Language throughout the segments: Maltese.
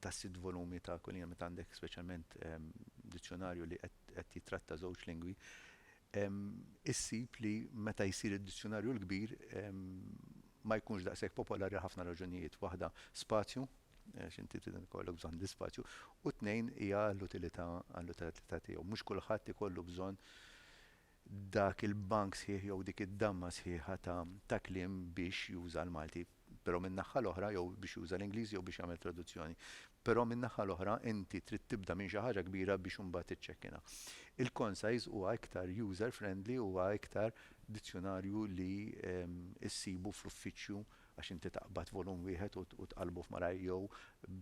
ta' sitt volumi ta' kull jiem, meta għandek speċjalment dizzjonarju li qed jittratta żewġ lingwi, issib li meta jsir id-dizzjonarju l-kbir ma jkunx daqshekk popolari għal ħafna raġunijiet. Waħda spazju, għax inti trid ikollok bżonn l-ispazju, u tnejn hija għall-utilità tiegħu. Mhux kulħadd ikollu bżonn dak il-bank sħiħ jew dik id-damma sħiħa ta' ta' kliem biex juża l-Malti, però min-naħħa l-oħra jew biex juża l-Ingliż jew biex jagħmel traduzzjoni. Però min-naħħa l-oħra inti trid tibda minn xi ħaġa kbira biex imbagħad tiċċekkinha. Il-Concise huwa iktar user friendly huwa iktar dizzjunarju li issibu fl-uffiċċju għax inti taqbad volum wieħed u tqallbu f'malajr jew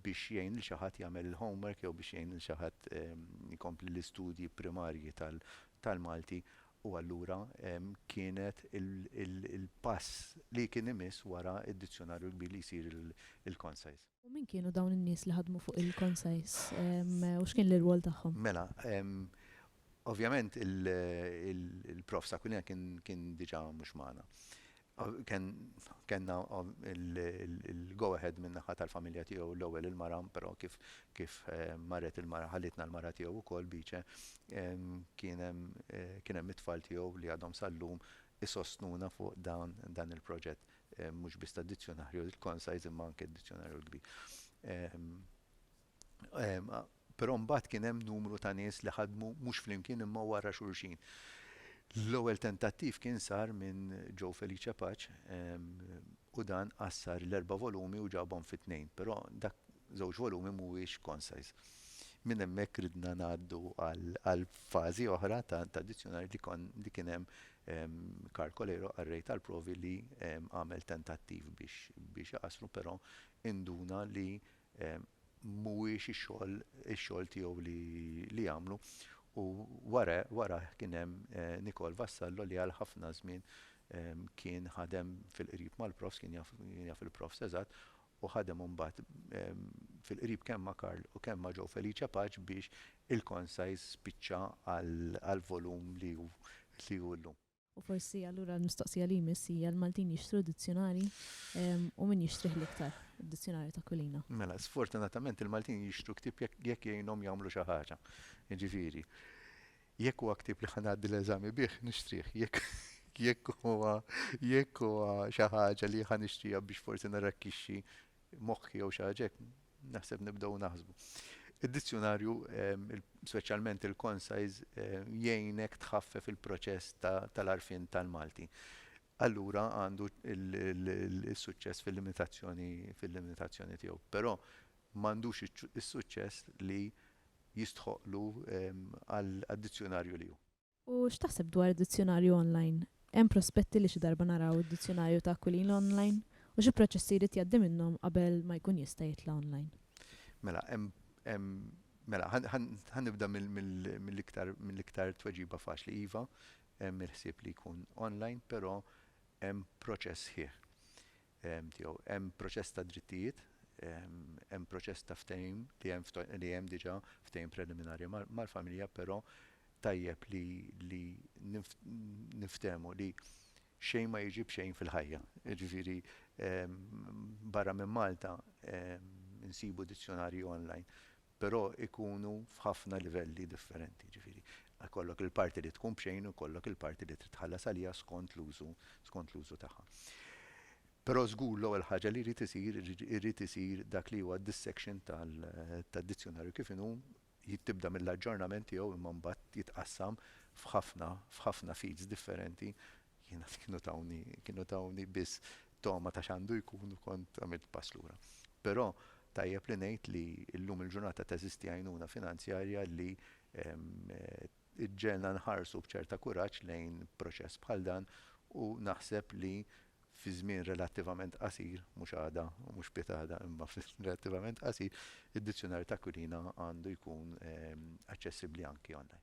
biex jgħin lil xi ħadd jagħmel il-homework jew biex jgħin lil xi ħadd ikompli l-istudji primarji tal tal-Malti u allura kienet il-pass li kien imiss wara d-dizzjonarju l-kbir li jsir il-Concise. U min kienu dawn in-nies li ħadmu fuq il-Concise u x'kien l-irwol tagħhom? Mela, ovvjament il-Prof. S'Aquilina kien diġà mhux magħna. Kellna il-go ahead min-naħa tal-familja tiegħu l-ewwel il-mara, però kif marret il-mara ħallitna l-mara tiegħu wkoll, Beace, kien hemm it-tfal tiegħu li għadhom sal-lum isostnuna fuq dan il-proġett, mhux biss tad-dizzjunarju l-Concise imma anke d-dizzjunarju l-kbir. Però mbagħad kien hemm numru ta' nies li ħadmu mhux flimkien imma wara xulxin. L-ewwel tentattiv kien sar minn Joe Felice Pace u dan qassar l-erba' volumi u ġabhom fi tnejn, però dak żewġ volumi mhuwiex concise. Minn hemmhekk ridna ngħaddu għal fażi oħra ta' dizzjunarju li kon li kien hemm Karl Coleiro, qarrej tal-provi li għamel tentattiv biex biex iqassru però induna li mhuwiex ix-xogħol ix-xogħol tiegħu li li jagħmlu u wara warajh kien hemm Nicole Vassallo li għal ħafna żmien kien ħadem fil-qrib mal-profs kien jaf kien jaf il-profs eżatt u ħadem imbagħad fil-qrib kemm ma' Karl u kemm ma' Joe Felice Pace biex il-Concise spiċċa għall-volum li hu li hu llum. U forsi allura l-mistoqsija li jmiss hija l-Maltin jixtru dizzjunarji u min jixtrih l-iktar, id-dizzjunarju ta' Kulina? Mela, sfortunatament il-Maltin jixtru ktieb jekk jgħinhom jagħmlu xi ħaġa. Jiġifieri, jekk huwa ktieb li ħa ngħaddi l-eżami bih, nixtrih. Jekk huwa jekk huwa xi ħaġa li ħa nixtriha biex forsi nirrakkixxi moħħi jew xi ħaġa hekk, Naħseb nibdew naħsbu. Id-dizzjunarju, speċjalment il-concise, jgħinek tħaffef il-proċess tal-għarfien tal-Malti. Allura għandu l-suċċess fil-limitazzjoni tiegħu. Però m'għandux is-suċċess li jistħoqqlu għad-dizzjunarju li hu. U x'taħseb dwar id-dizzjunarju online? Hemm prospetti li xi darba naraw id-dizzjunarju ta' Aquilina online? U xi proċessi jrid jgħaddi minnhom qabel ma jkun jista' jitla' online? Mela, hemm, hemm, mela, ħa, ħa, ħa nibda mill, mill, mill-iktar, mill-iktar tweġiba faċli, iva, hemm il-ħsieb li jkun online, però hemm proċess sħiħ. tiegħu. Hemm proċess ta' drittijiet, hemm proċess ta' ftehim li hemm diġà ftehim preliminari mal-familja però tajjeb li niftehmu li xejn ma jiġi b'xejn fil-ħajja. Jiġifieri barra minn Malta insibu dizzjonarji online però jkunu f'ħafna livelli differenti, jiġifieri jkollok il-parti li tkun b'xejn u jkollok il-parti li trid tħallas għaliha skont l-użu, skont l-użu tagħha. Però żgur l-ewwel ħaġa li jrid isir, irid isir dak li huwa d-dissection tal, tad-dizzjunarju kif inhu, tibda mill-aġġornament tiegħu imma mbagħad jitqassam f'ħafna, f'ħafna feeds differenti Jiena kienu tawni, kienu tawni biss togħma ta' x'għandu jkun u kont għamilt pass lura. Però tajjeb li ngħid li llum il-ġurnata teżisti għajnuna finanzjarja li ġġegħelna nħarsu b'ċerta kuraġġ lejn proċess bħal dan u naħseb li fi żmien relattivament qasir, mhux għada u mhux piegħada imma fi żmien relattivament qasir, id-Dizzjunarju ta' Aquilina għandu jkun aċċessibbli anki online.